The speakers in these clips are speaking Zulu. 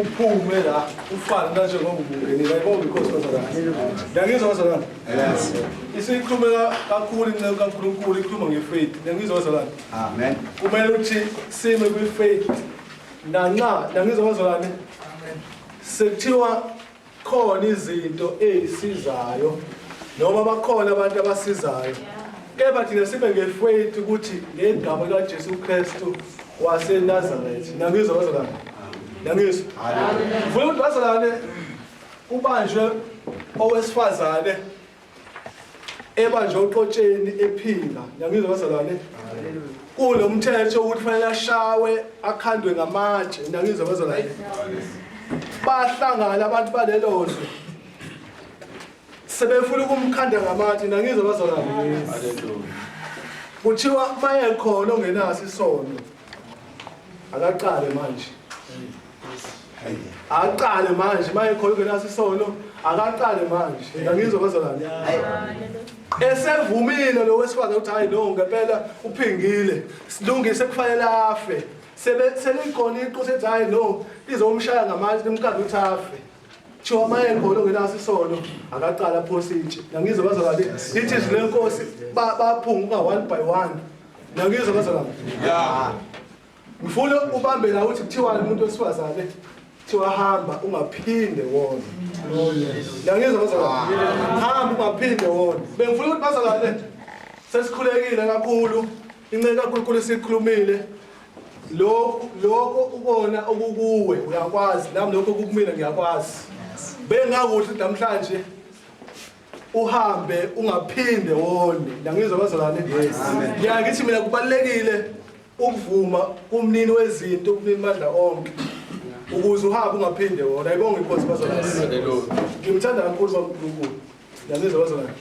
uphume la ufane kanje ngoba ubungenile ayibonga inkosi kwazalana yangizwa kwazalana yes isikhulume kakhulu inceku kaNkulunkulu ikhuluma ngefaith yangizwa kwazalana amen kumele uthi sime kwifaith nanxa yangizwa kwazalana amen Sekuthiwa khona izinto ezisizayo noma bakhona abantu abasizayo. Kepha thina sibe ngefaith ukuthi ngegama likaJesu Kristu waseNazaretha. Nangizwa bazalwane. Nangizwa. Ngifuna ukuthi bazalwane kubanjwe owesifazane ebanjwe uqotsheni ephila ngiyangizwa bazalwane kulo mthetho ukuthi fanele ashawe akhandwe ngamatshe ngiyangizwa bazalwane bahlangana abantu balelo zwe sebefuna ukumkhanda ngamatshe ngiyangizwa bazalwane kuthiwa maye khona ongenaso isono akaqale manje Aqale manje maye khona ungenaso isono, akaqale manje. Yena ngizwe kwezolani. Esevumile lo wesifazane ukuthi hayi no ngempela uphingile. Silungise kufanele afe. Sebe selikhona iqo sethi hayi no izomshaya ngamanje limkanda ukuthi afe. Thiwa maye khona ungenaso isono, akaqale aphose itshe. Ngizwe kwezolani. Lithi izwi lenkosi ba- baphunguka one by one. Ngizwe kwezolani. Yeah. Ngifuna ubambe la uthi kuthiwa umuntu wesifazane kuthiwa hamba ungaphinde wona. Yangizwa bazalwane. Hamba ungaphinde wona. Bengifuna ukuthi bazalwane sesikhulekile kakhulu inceku kaNkulunkulu sikhulumile lokho lokho ukona okukuwe uyakwazi nami lokho kukumina ngiyakwazi. Bengakuhle namhlanje uhambe ungaphinde wone. Ngiyangizwa bazalwane. Ngiyakithi mina kubalekile Ukuvuma kumnini wezinto kumnini madla onke ukuze uhambe ungaphinde wona ayibonge inkosi bazalwane ngimthanda kakhulu bankulunkulu niyazizwa bazalwane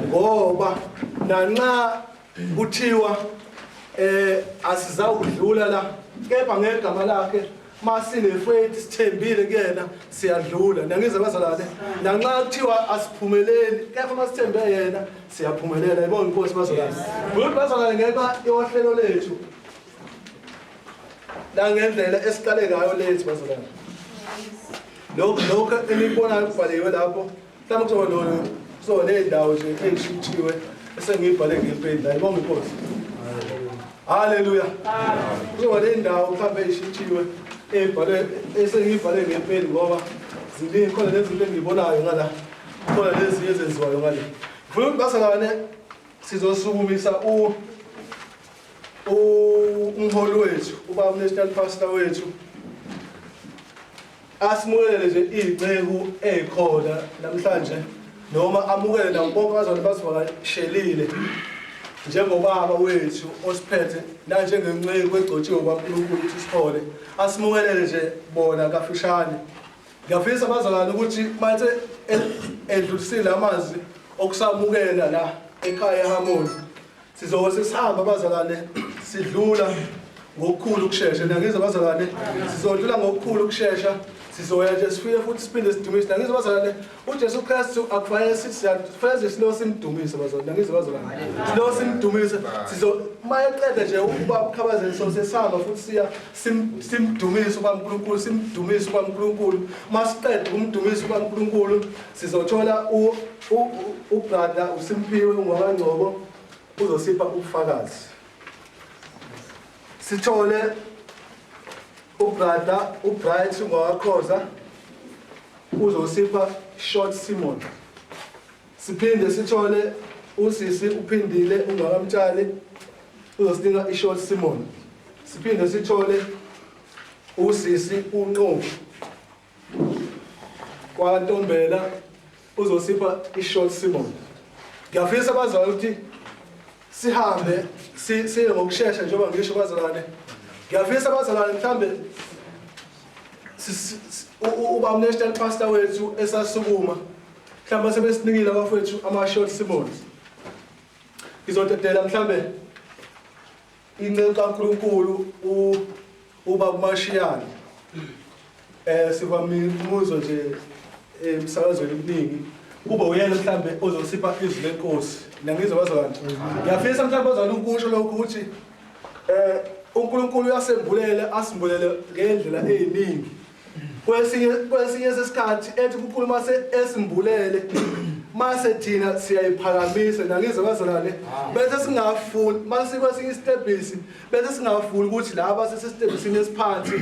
ngoba nanxa kuthiwa eh asizawudlula la kepha ngegama lakhe Masinefwethi sithembile kuyena siyadlula nangize bazalane nanxa kuthiwa asiphumeleli kepha masithembe yena siyaphumelela yibona inkosi bazalane good bazalane ngenxa yohlelo lethu nangendlela esiqale ngayo lethu bazalane lokho lokho enikubonayo kubhaliwe lapho Mhlawumbe kuzoba lona kuzoba ney'ndawo nje ey'shinthiwe esengiyibhale ngempeli la ibonga inkosi haleluya kuzoba ney'ndawo mhlawumbe ey'shinthiwe ey'bhalwe esengiyibhale ngempeli ngoba ziningi khona nezinto engiyibonayo ngala khona lezinye ezenziwayo ngale ngifuna ukuthi basangane sizosukumisa u umholi wethu ubaba national pastor wethu Asimukele nje inceku ekhona namhlanje noma amukele nabo bonke abazali basivakashelile njengobaba wethu osiphethe nanjengenceku egcotshiwe kwaNkulunkulu ukuthi sithole asimukelele nje bona kafishane ngiyafisa abazalwane ukuthi mathe edlulisile amazwi okusamukela la ekhaya ehamoni Sizobe sesihamba abazalwane sidlula ngokukhulu ukushesha nangizwa abazalwane sizodlula ngokukhulu ukushesha sizoya nje sifike futhi siphinde sidumise nangizwa abazalwane uJesu Kristu akufanele sithi siyafanele silo simdumise abazalwane nangizwa abazalwane silo simdumise sizo mayeqeda nje ukuba ukhabazele so sesihamba futhi siya simdumise uba uNkulunkulu simdumise uba uNkulunkulu masiqeda ukumdumisa uba uNkulunkulu sizothola u Ubrada uSimphiwe uNgwabangcobo uzosipha ubufakazi. Sithole ubrada uBright uNgwakhoza uzosipha Short Simon. Siphinde sithole usisi uphindile uNgwakamtshali uzosinika iShort Simon. Siphinde sithole usisi uNqovu KwaNtombela uzosipha i-short simon. Ngiyafisa abazali ukuthi sihambe siye ngokushesha njengoba ngisho bazalwane. Ngiyafisa abazalwane mhlambe uba unational pastor wethu esasukuma mhlawumbe sebesinikile abafowethu ama-short simons ngizodedela mhlawumbe Inceku kaNkulunkulu u uba kumashiyane eh siba mibuzo nje emsakazweni eh, kuningi kube uyena mhlambe ozosipha izwi lenkosi nangizwa bazo kanti ngiyafisa mhlambe bazana ukusho lokho ukuthi eh uNkulunkulu uyasembulela asimbulele ngendlela eziningi kwesinye kwesinye sesikhathi ethi kukhulu mase esimbulele mase thina siyayiphakamisa nangize bazalwane bese singafuni mase kwesinye isitebhisi bese singafuni ukuthi laba sesesitebhisini esiphansi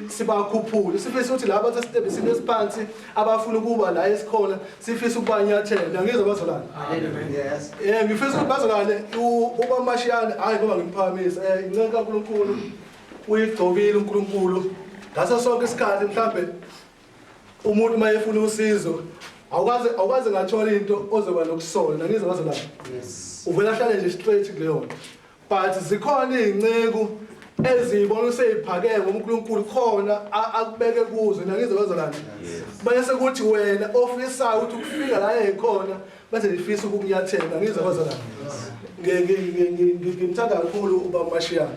sibakhuphule sifisa ukuthi laba sesitebhisini esiphansi abafuna ukuba la esikhona sifisa ukubanyathela nangize bazalwane yes eh ngifisa ukuthi bazalwane ubamashiyane hayi ngoba ngimphakamisa eh incenga kaNkuluNkulu Uyigcobile uNkulunkulu ngaso sonke isikhathi mhlambe umuntu mayefuna usizo awukaze awukaze ngathola into ozoba nokusona ngizwe ngazo lapho uvela ahlale nje straight kuleyo nto but zikhona izinceku ezibona useyiphakeke ngoNkulunkulu khona akubeke kuzo nangizwe ngazo lapho bese kuthi wena ofisayo ukuthi ukufika la ekhona bese ngifisa ukukunyathela ngizwe ngazo lapho ngimthanda kakhulu ubaba Mashiyana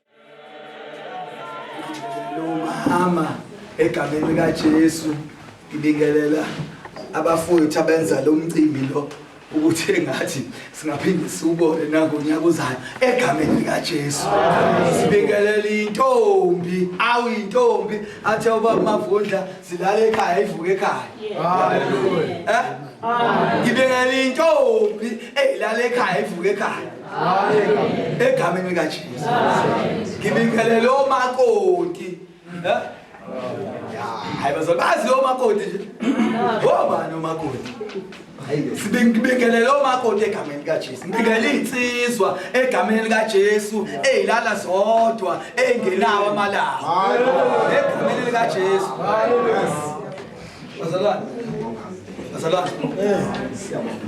Lomama egameni likaJesu ngibingelela abafowethu abenza lo mcimbi lo ukuthi engathi singaphinde siwubone nangonyaka uzayo egameni likaJesu sibingelela intombi awu intombi athi uba mavundla silale ekhaya ivuke ekhaya haleluya eh ngibingelela intombi eyilale ekhaya ivuke ekhaya egameni likaJesu ngibingelele omakoti eh? hayi bazali bazi omakoti nje obani omakoti sibingelele omakoti egameni likaJesu ngibingelela insizwa egameni likaJesu ezilala zodwa engenawo amalanga egameni likaJesu Bazalwane. Bazalwane. Eh.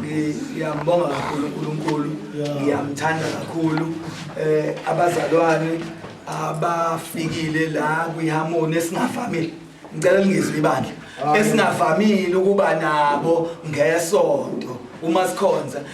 Ngiyambonga kakhulu uNkulunkulu. Ngiyamthanda kakhulu. Eh abazalwane abafikile la kwiharmony esingavamile. Ngicela lingizwe ibandla. Esingavamile ukuba nabo ngesonto uma sikhonza.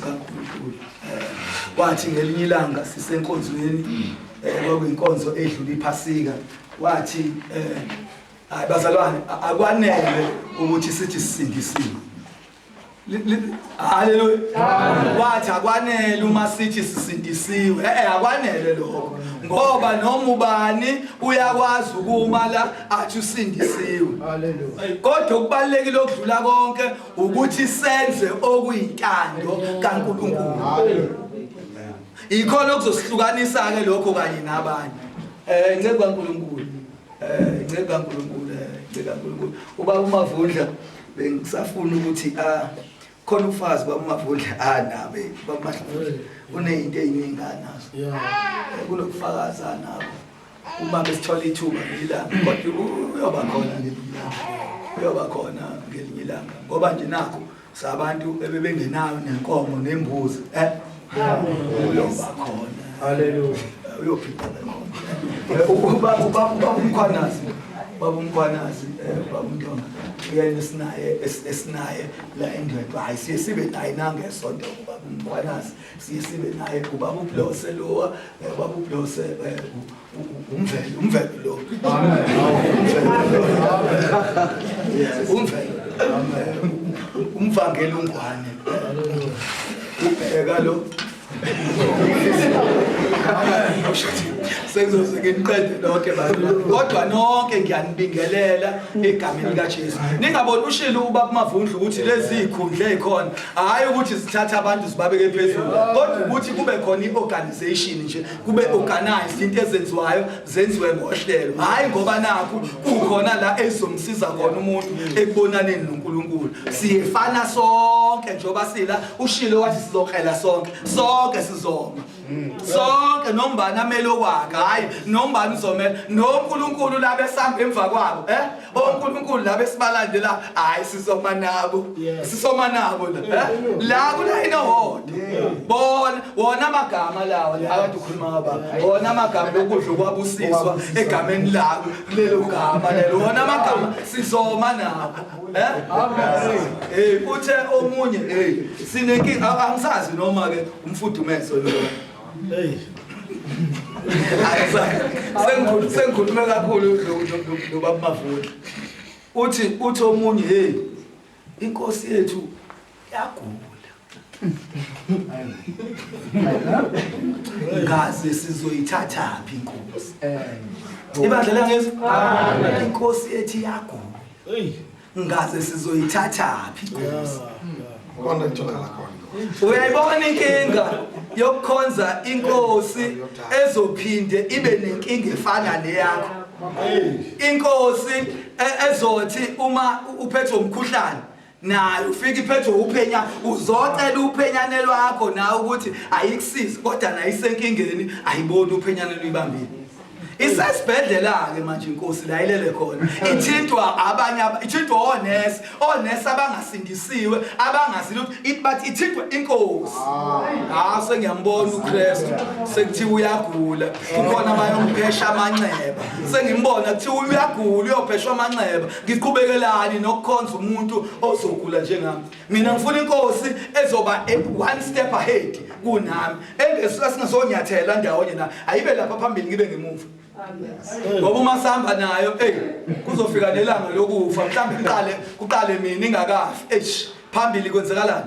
kaNkulunkulu eh, wathi ngelinye ilanga sisenkonzweni mm. eh, kwakuyinkonzo edlula iphasika wathi eh, hayi bazalwane akwanele ukuthi sithi sisindisiwe haleluya wathi akwanele uma sithi sisindisiwe e-e akwanele lokho ngoba noma ubani uyakwazi ukuma la athi usindisiwe kodwa okubalulekile okudlula konke ukuthi senze okuyintando kaNkulunkulu ikhona okuzosihlukanisa ke lokho kanye nabanye eh nceba kaNkulunkulu eh nceba kaNkulunkulu eh, nceba kaNkulunkulu uba umavundla bengisafuna ukuthi ah khona ufazi bamavundla anabe ah, bamahluzi kuneyinto eyiningi anazo kunokufakaza nabo uma besithola ithuba ngilanga kodwa uyoba khona uyoba khona ngelinye ilanga ngoba nje nakho sabantu ebebengenayo nenkomo nembuzi eh uyoba khona haleluya uyophila eh, uba uba uba umkhwanazi baba umkhwanazi eh, baba umntwana uyena esinaye esinaye la endwedwa hayi siye sibe naye nangesonto baba umkhwanazi siye sibe naye ubaba ublose lowa eh, ubaba ublose eh, umvelo umvelo lo umvelo umvangela ungwane ubheka lo sekuzoze nginiqede lonke kodwa nonke ngiyanibingelela egameni likajesu ningaboni ushilo uba kumavundla ukuthi lezi yikhundla ey'khona hhayi ukuthi zithathe abantu zibabeke phezulu kodwa ukuthi kube khona i-organization nje kube organized into ezenziwayo zenziwe ngohlelo hhayi ngoba nakhu kukhona la ezomsiza khona umuntu ekubonaneni nonkulunkulu siyefana sonke njengoba sila ushilo wathi sizokrela sonke sonke sizoma sonke nombani amele okwakhe hhayi nombani uzomela nonkulunkulu laba esihamba emva kwabo um eh? onkulunkulu laba esibalandela hhayi sisoma nabo sisoma nabo la eh? la kulayini owodwa bona wona amagama lawo la kade ukhuluma ngaba wona amagama lokudla okwabusiswa egameni labo kulelo gama lelo wona amagama sizoma nabo Eh? Uthe omunye sinenkinga angisazi noma ke umfudumeso lo. Hey. Sengikhulu sengikhulume kakhulu lo baba Mavula. Uthi uthi omunye hey inkosi yethu yagula ngaze sizoyithathaphi inkosi ibandla langezi inkosi ethi yagula ngaze sizoyithathaphi inkosi kona ngitholakala khona uyayibona inkinga yokukhonza inkosi ezophinde ibe nenkinga efana neyakho inkosi e-, ezothi uma uphethwe umkhuhlane nayo ufike iphethwe uphenya uzocela uphenyane lwakho nawe ukuthi ayikusizi kodwa nayo isenkingeni ayiboni uphenyane luyibambile isesibhedlela-ke manje inkosi la ilele khona ithintwa abanye ithintwa onesi onesi abangasindisiwe abangazi lutho ithi bathi ithintwa inkosi hawu ah, sengiyambona ukristu sekuthiwa uyagula kukhona abayomphesha amanxeba sengimbona kuthiwa uyagula uyopheshwa amanxeba ngiqhubekelani nokukhonza umuntu ozogula njengami mina ngifuna inkosi ezoba one step ahead kunami engesuka singasonyathela ndawonye na ayibe lapha phambili ngibe ngemuva ngoba uma sihamba nayo ey kuzofika nelanga lokufa mhlawumbe kuqale kuqale mina ingakafi eish phambili kwenzekalani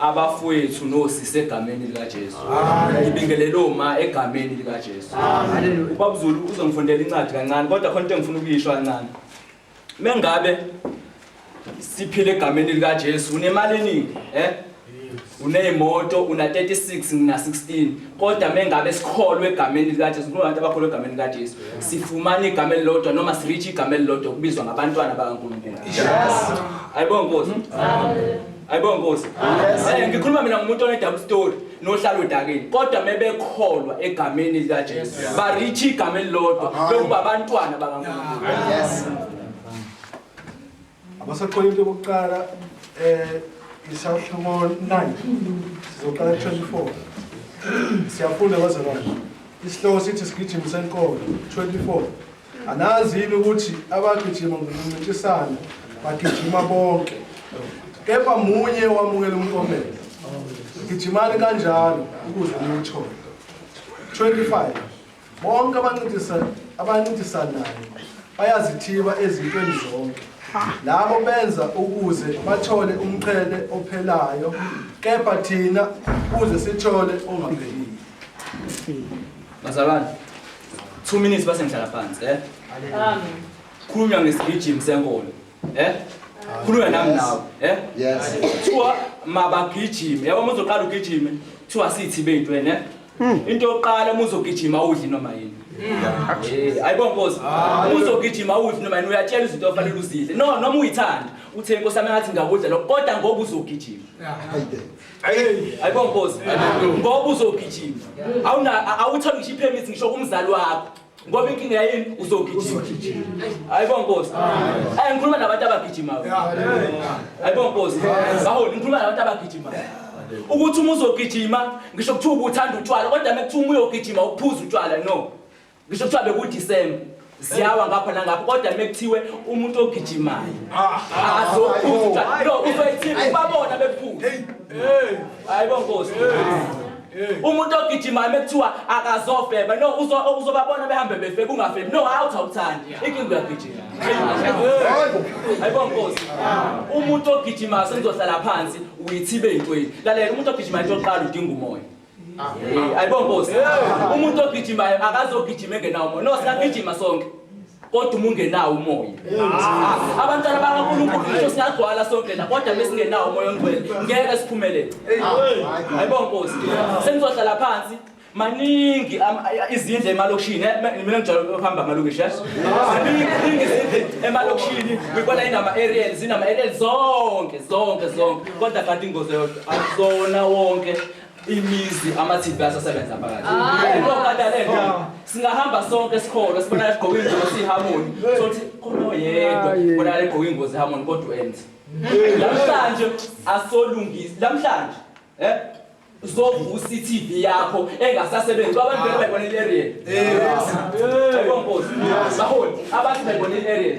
abafowethu nosisi egameni likaJesu. Ngibingelele oma egameni likaJesu. Haleluya. Ubaba Zulu uzongifundela incwadi kancane kodwa khona into engifuna ukuyisho kancane. Mengabe siphile egameni likaJesu unemali eningi, eh? Uneyimoto una 36 ngina 16 kodwa mengabe sikholwe egameni likaJesu kunabantu abakholwe egameni likaJesu sifumana igama elilodwa noma sireach igama elilodwa kubizwa ngabantwana bakaNkulunkulu. Yes. Ayibongozi. Amen. Hayibo Nkosi. Eh ngikhuluma mina ngomuntu one double story nohlala odakeni. Kodwa mebekholwa egameni lika Jesu. Ba reach igama elilodwa lokuba abantwana bakaNkulunkulu. Yes. Abasaxola into yokuqala eh isahluko 9 sizoqala 24. Siyafunda bazalwane. Isihloko sithi sigijimi senkolo 24. Anazi yini ukuthi abagijima ngokuncintisana bagijima bonke kepha munye owamukela umkomelo? Gijimani kanjalo ukuze niwuthole. 25 bonke abancintisana abancintisanayo bayazithiba ezintweni zonke labo benza ukuze bathole umqhele ophelayo kepha thina kuze sithole ongaphelile bazalwane Two minutes base ngihlala phansi, eh? Amen. Khuluma ngesigijimi senkolo, eh? Khuluma nami nawe, eh? Yes. Kuthiwa mabagijime, yabo muzoqala ugijime, kuthiwa sithi bethu wena, eh? Hmm. Into yokuqala uma uzogijima awudli noma yini. Hmm. Eh, Ayibona Nkosi, ah, uma uzogijima awudli noma yini uyatshela izinto ofanele uzidle. No, noma uyithanda, uthe inkosi yami ngathi ngakudla lokho, kodwa ngoba uzogijima. Hayi. ayibompozi ngoba uzogijima awutholi ngisho iphemithi ngisho kumzali wakho ngoba inkinga yayini uzogijima ayibo nkosi ayi ngikhuluma nabantu abagijimayo ayibo nkosi baholi ngikhuluma nabantu abagijimayo ukuthi uma uzogijima ngisho kuthiwa ubuthanda utshwala kodwa uma kuthiwa uma uyogijima uphuza utshwala no Ngisho kuthiwa bekuDisemba ziyawa ngapha nangapha kodwa mekuthiwe umuntu ogijimayo azokuzwa no uzoyithini ubabona bephuma hayibo nkosi umuntu ogijimayo mekuthiwa akazofeba no uzobabona behambe befeba ungafebi no hawu thawuthanda inkinga uyagijima hayibo nkosi umuntu ogijimayo sengizohlala phansi uyithibe eyintweni lalela umuntu ogijimayo into yokuqala udinga umoya Hey, ayibo Nkosi. Umuntu ogijimayo akazogijima engenawo umoya. No, siyagijima sonke. Kodwa uma ungenawo umoya. Ah, Abantwana bakaNkulunkulu ngisho singagcwala sonke la kodwa besingenawo umoya ongcwele ngeke siphumelele. Ayibo Nkosi. Senizohlala phansi maningi am- a- izindle emalokishini eh, me- mina ngijwayele ukuhamba amalokishi eh? maningi maningi izindle emalokishini ngibona inama aerial zinama aerial zonke zonke zonke kodwa kanti ingozi yodwa akuzona wonke imizi amathimba asasebenza phakathi lokadalento ah. singahamba sonke esikole sibona egqoka ingozi sihamoni sothi khona oyedwa bona legqoka ingozi hamoni kodwa enze namhlanje asolungisi namhlanje eh zovusa iTV yakho engasasebenzi abantu beke bayibona iAriel. Yebo Nkosi. Baholi abantu bayibona iAriel.